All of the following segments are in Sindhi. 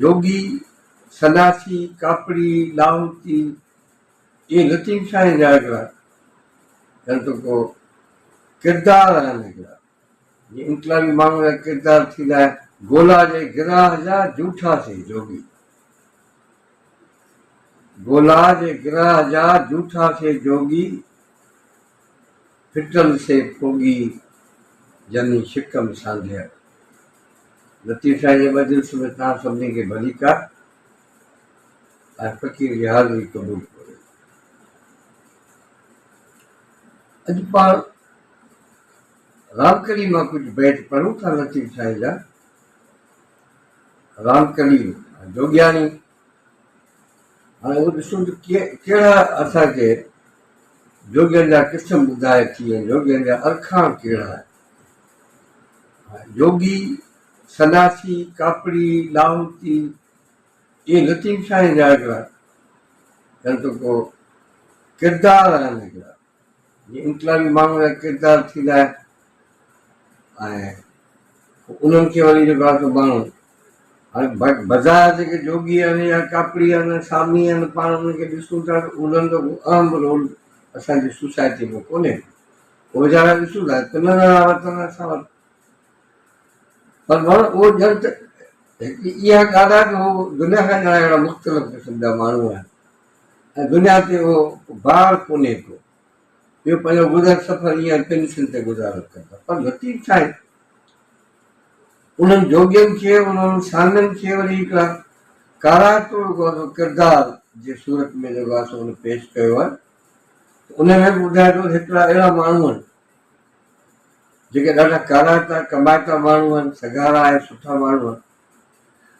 يوگي، سنياسي، ڪاپڙي، لاهوتي، اهي لطيف شاهيء جا هڪڙا گهڻتو ڪو ڪردار آهن، هڪڙا جي انقلابي ماڻهوء جا ڪردار ٿيندا آهن، گولا جي گراهه جا جوٺا سي جوڳي، گولا جي گراهه جا جوٺا سي جوڳي. ڦٽل سي ڦوڳي جني شڪم سانڍيل. لطيف شاهه جي مجلس ۾ توهان سڀني کي ڀليڪا ۽ فقير جي حاضري قبول ڪوريو. اڄ پاڻ رامڪلي مان ڪجهه بيت پڙهون ٿا لطيف شاهه جا. رامڪلي مان جوڳياڻي هاڻي اهو ڏسون ته ڪهڙا اسان کي جوڳين جا قسم ٻڌائي ٿي ۽ جوڳين جا ارکان ڪهڙا آهن. جوڳي، سناسي، ڪاپڙي، لاهوتي اهي لطيف شاهيء جا هڪڙا ڪن ته ڪو ڪردار آهن هڪڙا. جي انقلابي ماڻهن جا ڪردار ٿيندا آهن ۽ انهن کي وري جيڪو آهي سو ماڻهو هاڻي بظاهر جيڪي جوڳي آهن يا ڪاپڙي آهن يا سامي آهن پاڻ انهن کي ڏسون ٿا ته انهن جو ڪو اهم رول اسان جي سوسائٽي ۾ ڪونهي ڪو ويچارا ڏسون ٿا ته نه نه وطن اسان وٽ پر ماڻهو اهو ڄڻ ته هڪ اها ڳالهه آهي ته هو دنيا کان ڄڻ اهڙا مختلف قسم جا ماڻهو آهن ۽ دنيا تي اهو بار ڪونهي ڪو. اهو پنهنجو گذر سفر ايئن پينشن تي گذارو ڪن ٿا. پر لطيف سائين انهن جوڳين کي، انهن سانگن کي وري هڪڙا ڪارائتو ڪردار جي صورت ۾ جيڪو آهي سو هن پيش ڪيو آهي ته ان ۾ به ٻڌائي ٿو ته هڪڙا اهڙا ماڻهو آهن جيڪي ڏاڍا ڪارائتا ڪمائتا ماڻهو آهن، سگهارا آهن، سٺا ماڻهو آهن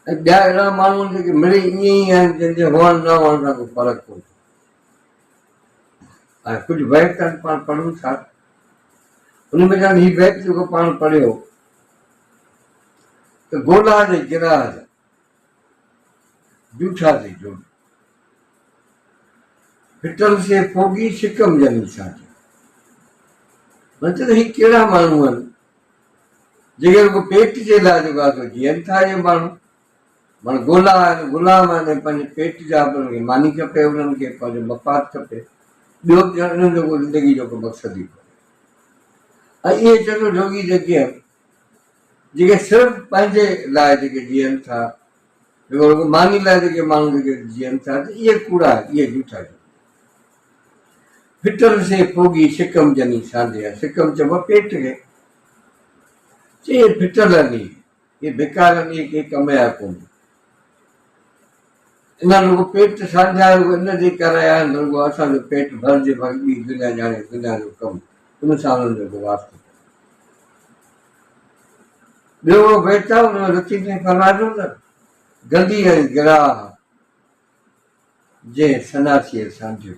۽ ٻيا اهڙا ماڻهو آهن جيڪي مڙئي ائين ئي آهن جن جي هئڻ نه هئڻ سان ڪو فرق ڪونهي ۽ ڪجهه بيت آهن پاڻ پڙهون ٿا ان ۾ چون هي بيت جيڪو پاڻ پڙهيو ته گولا جي گراهه جا جوٺا جي جوڙ ڦٽل سي ڦوڳي شڪم جني ڇا چون مطلب هي ڪهڙا ماڻهو آهن جيڪي رڳو پيٽ جي لاء جيڪا ته جيئن ٿا اهي ماڻهو مڙ گولا آهن، غلام آهن ۽ پنهنجي پيٽ جا به انهن کي ماني کپي، انهن کي پنهنجو مفاد کپي، ٻيو به ڄڻ انهن جو ڪو زندگي جو ڪو مقصد ئي ڪونهي. ۽ اهي چٽو جوڳي جيڪي آهن، جيڪي صرف پنهنجي لاء جيڪي جيئن ٿا، جيڪو رڳو ماني لاء جيڪي ماڻهو جيڪي جيئن ٿا ته اهي ڪوڙا، اهي جھوٽا جيئن. ڦٽر سي پوڳي سڪم جني سانڍي ها، سڪم چئبو آهي پيٽ کي. چئي اهي ڦٽل آهن اهي، اهي بيڪار آهن اهي ڪنهن ڪم جا ڪونهن. انهن رڳو پيٽ سانڍيا آهن رڳو ان جي ڪري آيا آهن ته رڳو اسان جو پيٽ ڀرجي باقي ٻي دنيا ڄاڻي دنيا جو ڪم ان سان انهن جو ڪو واسطو ڪونهي. ٻيو اهو بيت آهي، ان رتيء ۾ فرمائجو ته، گندي ۽ گراهه جنهن سناسيء سمجهيو.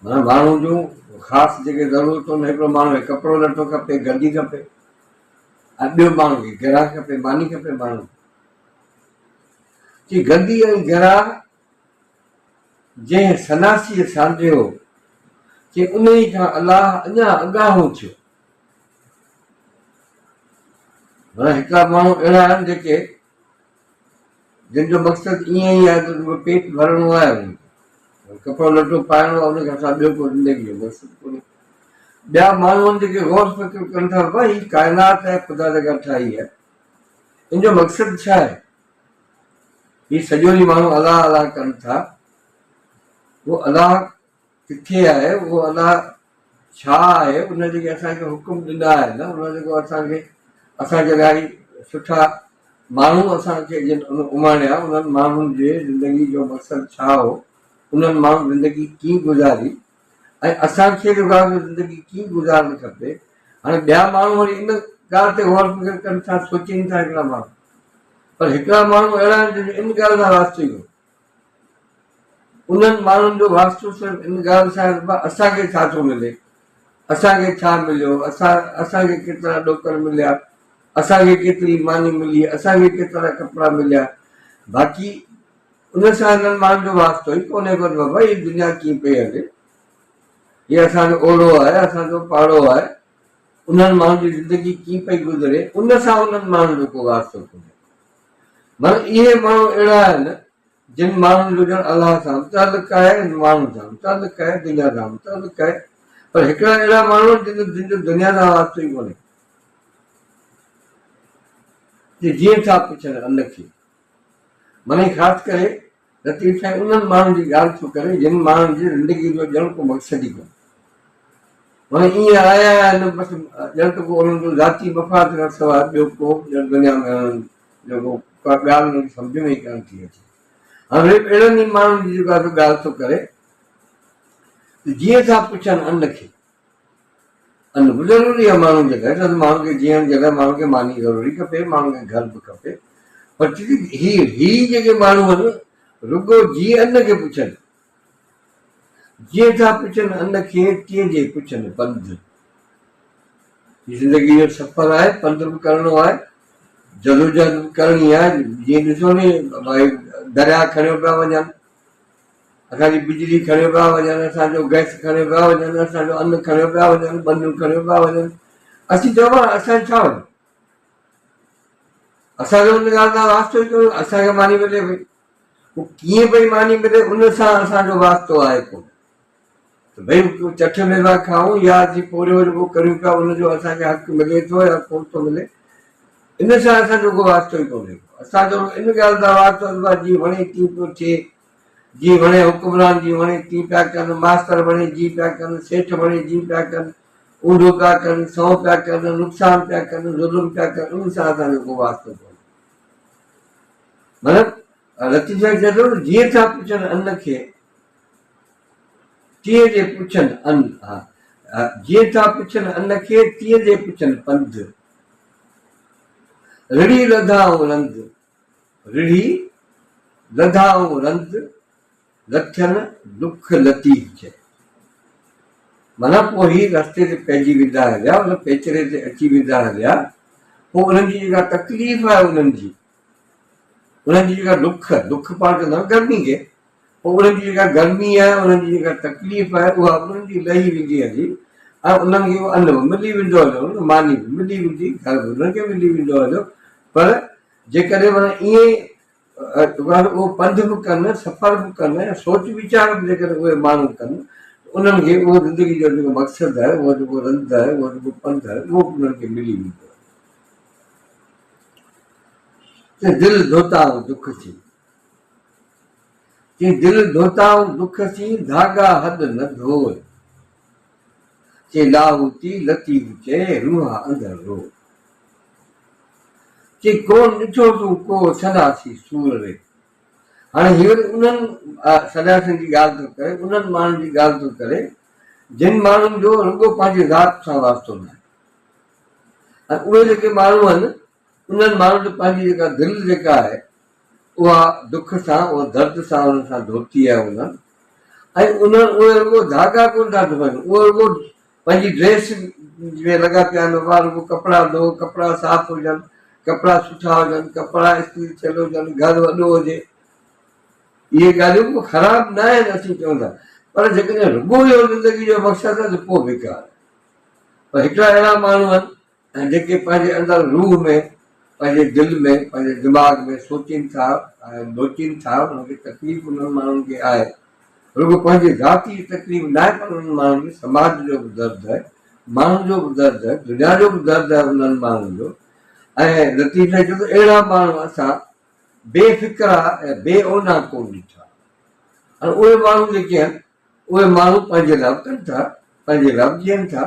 معنيٰ ماڻهو جون خاص جيڪي ضرورتون هڪڙو ماڻهو کي ڪپڙو لٽو کپي، گندي کپي ۽ ٻيو ماڻهو کي گراهه کپي، ماني کپي ماڻهو کي. چي گندي ۽ گراهه جنهن سناسيء سانڍيو، چي انهيء کان الله اڃا اڳاهو ٿيو. معنيٰ هڪڙا ماڻهو اهڙا آهن جيڪي جن جو مقصد ائين ئي آهي ته رڳو پيٽ ڀرڻو آهي انهن کي، ڪپڙو لٽو پائڻو آهي ان کان سواء ٻيو ڪو زندگيء جو مقصد ڪونهي. ٻيا ماڻهو آهن جيڪي غور فڪر ڪن ٿا ته هي ڪائنات ۽ خدا جيڪا ٺاهي آهي ان جو مقصد ڇا آهي؟ هي سڄو ڏينهن ماڻهو الله الله ڪن ٿا. اهو الله ڪٿي آهي؟ اهو الله ڇا آهي؟ ان جيڪي اسان کي حڪم ڏنا آهن، ان جيڪو اسان کي اسان جي لاء سٺا ماڻهو اسان کي جن اماڻيا، انهن ماڻهن جي زندگي جو مقصد ڇا هو؟ انهن ماڻهن زندگي ڪيئن گذاري؟ ۽ اسان کي روايت ۾ زندگي ڪيئن گذارڻ کپي هاڻي ٻيا ماڻهو وري ان ڳالهه تي غور فڪر ڪن ٿا سوچين ٿا هڪڙا ماڻهو پر هڪڙا ماڻهو اهڙا آهن جن جو ان ڳالهه سان واسطو ئي ڪونه انهن ماڻهن جو واسطو صرف ان ڳالهه سان آهي ته اسان کي ڇا ٿو ملي اسان کي ڇا مليو اسان اسان کي ڪيترا ڏوڪڙ مليا اسان کي ڪيتري ماني ملي اسان کي ڪيترا ڪپڙا مليا باقي ان سان هنن ماڻهن جو واسطو ئي ڪونهي پر بابا هي دنيا ڪيئن پئي هلي هي اسان جو اوڙو آهي اسان جو پاڙو آهي انهن ماڻهن جي زندگي ڪيئن پئي گذري ان سان انهن ماڻهن جو ڪو واسطو ڪونهي مگر اهي ماڻهو اهڙا آهن جن ماڻهن جو ڄڻ الله سان تعلق آهي هن ماڻهن سان تعلق آهي دنيا سان تعلق آهي پر هڪڙا اهڙا ماڻهو جن جن جو دنيا سان واسطو ئي ڪونهي جي جيئن ٿا پڇن ان کي منهنجي خاص ڪري لطيف سائين انهن ماڻهن جي ڳالهه ٿو ڪري جن ماڻهن جي زندگي جو ڄڻ ڪو مقصد ئي ڪونهي. معنيٰ ايئن آيا آهن بس ڄڻ ته ڪو انهن جو ذاتي مفاد کان سواء ٻيو ڪو به ڄڻ دنيا ۾ انهن جو ڪو ڪا ڳالهه انهن کي سمجهه ۾ ئي ڪانه ٿي اچي. هاڻ ريپ اهڙن ئي ماڻهن جي جيڪا ته ڳالهه ٿو ڪري ته جيئن ٿا پڇن ان کي. ان به ضروري آهي ماڻهن جي لاء، ڇو ماڻهن کي جيئڻ جي لاء ماڻهن کي ماني ضروري کپي، ماڻهن کي گهر به کپي، پر هي هي جيڪي ماڻهو آهن رڳو جي ان کي پڇن، جيئن ٿا پڇن ان کي تيئن جي پڇن پنڌ، هي زندگي جو سفر آهي پنڌ به ڪرڻو آهي، جدوجهد به ڪرڻي آهي، جيئن ڏسو نه درياهه کڻيو پيا وڃن. اسان جي بجلي کڻيو پيا وڃن، اسان جو گئس کڻيو پيا وڃن، اسان جو ان کڻيو پيا وڃن، ٻنيون کڻيو پيا وڃن، اسين چئون پيا اسان جو ڇا وڃي؟ اسان جو ان ڳالهه سان واسطو ئي ڪونهي، اسان کي ماني ملي پئي، هو ڪيئن پئي ماني ملي ان سان اسان جو واسطو آهي ڪونه، ته ڀئي چٺ ۾ پيا کائون يا جي پورهيو رڳو ڪريون پيا ان جو اسان کي حق ملي ٿو يا ڪونه ٿو ملي، ان سان اسان جو ڪو واسطو ئي ڪونهي ڪو، اسان جو ان ڳالهه سان واسطو آهي ته جيئن وڻي تيئن پيو ٿئي. جي وڻي حڪمران جي وڻي تي پيا ڪن، ماستر وڻي جي پيا ڪن، سيٺ وڻي جي پيا ڪن، اونڍو پيا ڪن، سنئون پيا ڪن، نقصان پيا ڪن، ظلم پيا ڪن، انهن سان اسان جو ڪو واسطو ڪونهي. مطلب لطيف سائين چئي ٿو نه جيئن ٿا پڇن ان کي تيئن جي پڇن ان ها جيئن ٿا پڇن ان کي تيئن جي پڇن پنڌ رڙي رڌا او رند رڙهي لڌائون رند، لٿين لک لطيف چئي. معنيٰ پوء هي رستي تي پئجي ويندا هليا، ان پيچري تي اچي ويندا هليا، پوء انهن جي جيڪا تڪليف آهي انهن جي، انهن جي جيڪا لک، لک پاڻ چوندا آهيون گرمي کي. انهن جي جيڪا گرمي آهي، انهن جي جيڪا تڪليف آهي، اها به انهن جي لهي ويندي هلي ۽ انهن کي اهو ان به ملي ويندو هليو نه، ماني به ملي ويندي، گهر به انهن کي ملي ويندو هليو، پر جيڪڏهن معنيٰ ائين معنيٰ اهو پنڌ به ڪن، سفر به ڪن ۽ سوچ ويچار به جيڪڏهن اهي ماڻهو ڪن ته انهن کي اهو زندگي جو جيڪو مقصد آهي، اهو جيڪو رند آهي، اهو جيڪو پنڌ آهي، اهو به انهن کي ملي ويندو هليو. ته دل ڌوتا ۽ دک ٿي. چي دل ڌوتائون دک سين ڌاڳا حد نه ڌوء. چي لاهوتي لطيف چئي روح اندر روء. چي ڪونه ڏٺو تون ڪو سنياسي سور ري. هاڻي هي وري انهن سنياسين جي ڳالهه ٿو ڪري، انهن ماڻهن جي ڳالهه ٿو ڪري، جن ماڻهن جو رڳو پنهنجي ذات سان واسطو ناهي ۽ اهي جيڪي ماڻهو آهن، انهن ماڻهن ته پنهنجي جيڪا دل جيڪا آهي اها دک سان اها درد سان انهن سان ڌوتي آهي انهن ۽ انهن اهي رڳو ڌاڳا ڪونه ٿا ڌوئن اهي رڳو پنهنجي ڊريس ۾ لڳا پيا آهن اها رڳو ڪپڙا ڌو ڪپڙا صاف هجن ڪپڙا سٺا هجن ڪپڙا استري ٿيل هجن گهر وڏو هجي اهي ڳالهيون به خراب نه آهن اسين چون ٿا پر جيڪڏهن رڳو اهو زندگي جو مقصد آهي ته پوء بيڪار پر هڪڙا اهڙا ماڻهو آهن ۽ جيڪي پنهنجي اندر روح ۾ پنهنجي دل ۾ پنهنجي دماغ ۾ سوچين ٿا ۽ ڀوچين ٿا انهن کي تڪليف انهن ماڻهن کي آهي رڳو پنهنجي ذاتي جي تڪليف ناهي پر انهن ماڻهن کي سماج جو به درد آهي ماڻهن جو به درد آهي دنيا جو به درد آهي انهن ماڻهن جو ۽ لطيف سائين چيو ته اهڙا ماڻهو اسان بي فڪرا ۽ بي اونا ڪون ڏٺا ۽ اهي ماڻهو جيڪي آهن اهي ماڻهو پنهنجي لاء ڪن ٿا، پنهنجي لاء به جيئن ٿا،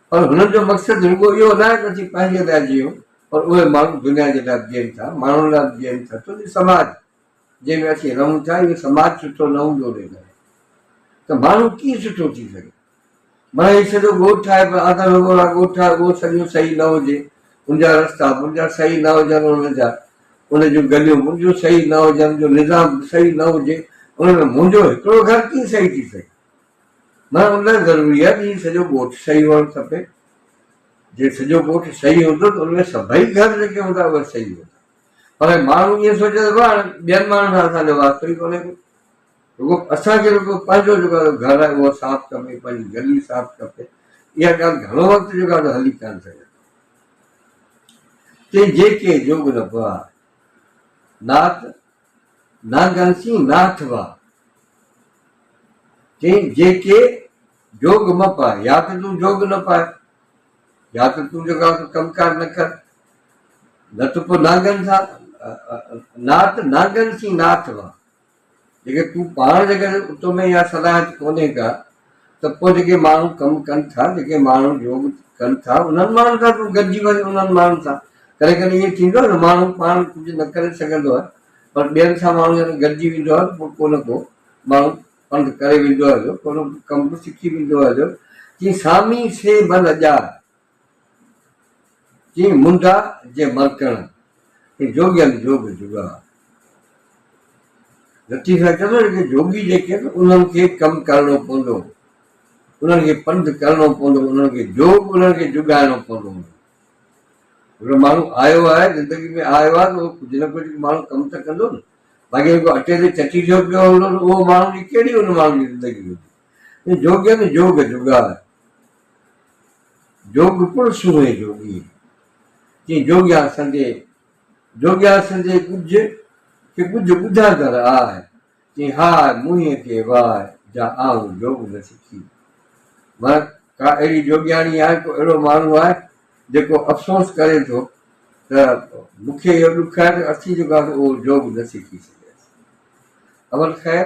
پر هنن جو مقصد رڳو اهو ناهي ته اسين پنهنجي لاء جيئون، پر اهي ماڻهو دنيا جي لاء به جيئن ٿا، ماڻهن لاء به جيئن ٿا، ڇو جو سماج جنهن ۾ اسين رهون ٿا، اهو سماج سٺو نه هوندو انهيء ڪري ته ماڻهو ڪيئن سٺو ٿي سگهي؟ مان هي سڄو ڳوٺ آهي پر آڌا نوگوڙا ڳوٺ آهي اهو سڄو صحيح نه هجي ان جا رستا به ان جا صحيح نه هجن ان جا ان جون گليون به ان جون صحيح نه هجن جو نظام به صحيح نه هجي ان ۾ منهنجو هڪڙو گهر ڪيئن صحيح ٿي سگهي مان ان لاء ضروري آهي ته هي سڄو ڳوٺ صحيح هئڻ کپي جي سڄو ڳوٺ صحيح هوندو ته ان ۾ سڀئي گهر جيڪي هوندا اهي صحيح هوندا پر ماڻهو ائين سوچي ته ٻين ماڻهن سان اسان جو واسطو ئي ڪونهي ڪو رڳو اسان کي رڳو پنهنجو جيڪو گهر آهي اهو صاف کپي، پنهنجي گلي صاف کپي، اها ڳالهه گهڻو وقت جيڪو آهي هلي ڪانه سگهندي. چئي جيڪي جوڳ نه پوها، نات نانگن سين ناٿ وا. چئي جيڪي جوڳ م پاء، يا ته تون جوڳ نه پاء، يا ته تون جيڪو آهي ڪم ڪار نه ڪر، نه ته پوء نانگن سان نات نانگن سين ناٿ وا. جيڪڏهن تون پاڻ جيڪڏهن اتو ۾ اها صلاحيت ڪونهي ڪا ته پوء جيڪي ماڻهو ڪم ڪن ٿا، جيڪي ماڻهو يوگ ڪن ٿا، انهن ماڻهن سان تون گڏجي وڃ، انهن ماڻهن سان. ڪڏهن ڪڏهن ائين ٿيندو آهي ته ماڻهو پاڻ ڪجهه نه ڪري سگهندو آهي پر ٻين سان ماڻهو جڏهن گڏجي ويندو آهي ته پوء ڪو نه ڪو ماڻهو پنڌ ڪري ويندو آهي جو ڪو نه ڪو ڪم به سکي ويندو آهي جو چيائين سامي سي ڀل ڄار. جيئن منڊا جي مرڪڻ ۽ جوڳين جوڳ جوڳا. لطيف صاحب چوي ٿو ته جوڳي جيڪي آهن انهن کي ڪم ڪرڻو پوندو انهن کي پنڌ ڪرڻو پوندو انهن کي جوڳ انهن کي جوڳائڻو پوندو هوندو هڪڙو ماڻهو آيو آهي زندگي ۾ آيو آهي ته ڪجهه نه ڪجهه ماڻهو ڪم ته ڪندو نه باقي جيڪو اٽي تي چٽي جو پيو هوندو اهو ماڻهو جي ڪهڙي ان ماڻهو جي زندگي هوندي جوڳين جوڳ جوڳا جوڳ پڻ سونهين جوڳي، چين جوڳيان سندي، جوڳيان سندي ڳجهه کي ڳجهه ٻڌاندڙ آء، چين هاء موهين کي واء جا آئون جوڳ نه سکي. معنيٰ ڪا اهڙي جوڳياڻي آهي، ڪو اهڙو ماڻهو آهي، جيڪو افسوس ڪري ٿو ته مون کي اهو ڏک آهي ته اسين جيڪو آهيسون اهو جوڳ نه سکي سگهياسين. اول خير!